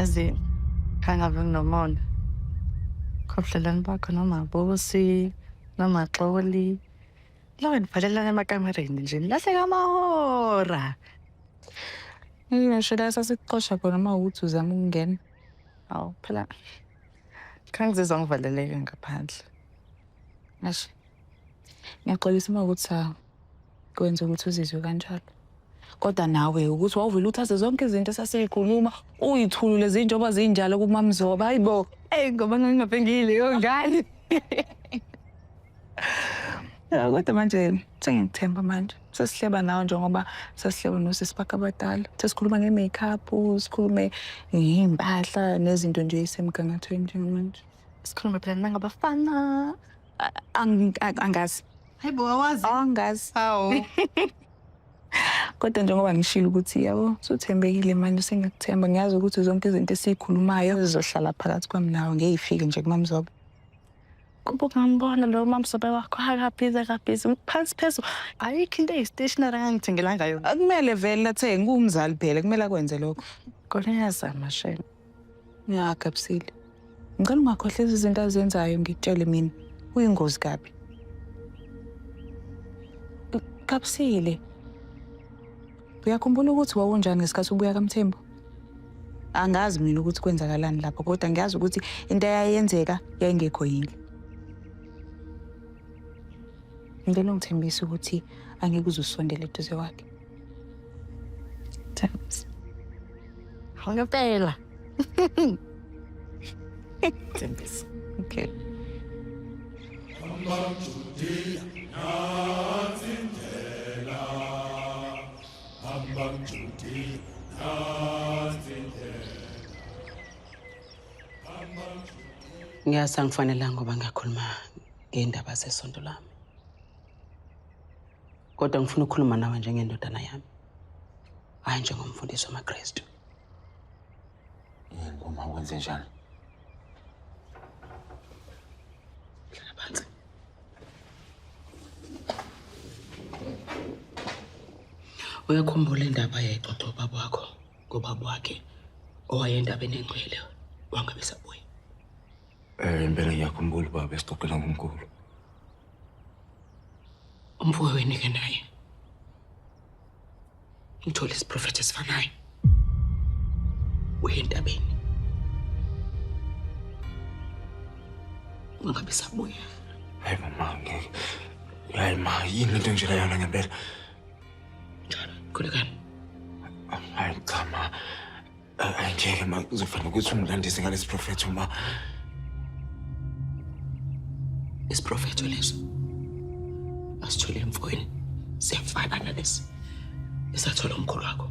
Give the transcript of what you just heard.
Yazi kangabe nginomona. Khobhlelani bakho noma bosi noma xoli. Lawe nibhalelana emakamereni nje nilahleka amahora. Ngisho la sasikuxosha khona uma ukuthi uzama ukungena. Awu phela khangizizwa ngivaleleke ngaphandle. Ngasho. Ngiyaxolisa uma ukuthi kwenza ukuthi uzizwe kanjalo kodwa nawe ukuthi wawuvele uthathe zonke izinto esasiyikhuluma uyithulule zinjengoba zinjalo kumamzoba hayi bo eyi ngoba ngingapengile yongane ya kodwa manje sengikuthemba manje sesihleba nawe njengoba sesihleba nosisi bakhe abadala sesikhuluma nge-makeup sikhulume ngey'mpahla nezinto nje eyisemgangathweni njengamanje sikhulume phela nangabafana Ang- a- angazi hayi bo awazi angazi hawu kodwa njengoba ngishilo ukuthi yabo suthembekile manje sengiyakuthemba ngiyazi ukuthi zonke izinto esiyikhulumayo zizohlala phakathi kwami nawe ngeyifike nje kumamzobe kuba ungambona lo mamsobe wakho akabhizi akabhizi phansi phezulu ayikho into eyi-stationary angangithengela ngayo akumele vele athenge kuwumzali phela kumele akwenze lokho kodwa ngiyazama shela Ngiyagabusile. Ngicela ungakhohlisa izinto azenzayo ngikutshele mina. Uyingozi kabi. Gabusile. Uyakhumbula ukuthi wawunjani ngesikhathi ubuya kaMthembu? Angazi mina ukuthi kwenzakalani lapho kodwa ngiyazi ukuthi into eyayenzeka yayingekho yini. Ngicela ungithembise ukuthi angeke uzusondele eduze kwakhe. Ngempela. Thembisa. Okay. Ngiyazi angifanelanga ngoba ngiyakhuluma ngendaba zesonto lami. kodwa ngifuna ukukhuluma nawe njengendodana yami hhayi njengomfundisi wamakristu yini boma kwenze njani hlala phansi uyakhumbula indaba yayixoxa ubaba wakho ngobaba wakhe owayendabeni engcwele wangabe sabuya Eh, impela ngiyakhumbula ubaba esixoxela ngomkhulu. Umfowenu wenu ke naye. Ngithole isiprofethi esifanayo. Uyentabeni. Ungabe sabuya. Hayi mama ngeke. Hayi ma yini lento nje layona ngempela. Njalo, khulekani. Hayi cha ma. Ay ngeke ma kuzofanele ukuthi umlandise ngalesi profetho ma. Isiprofetho leso. Asithole mfowenu. Siyafana nalesi. Esathola umkhulu wakho.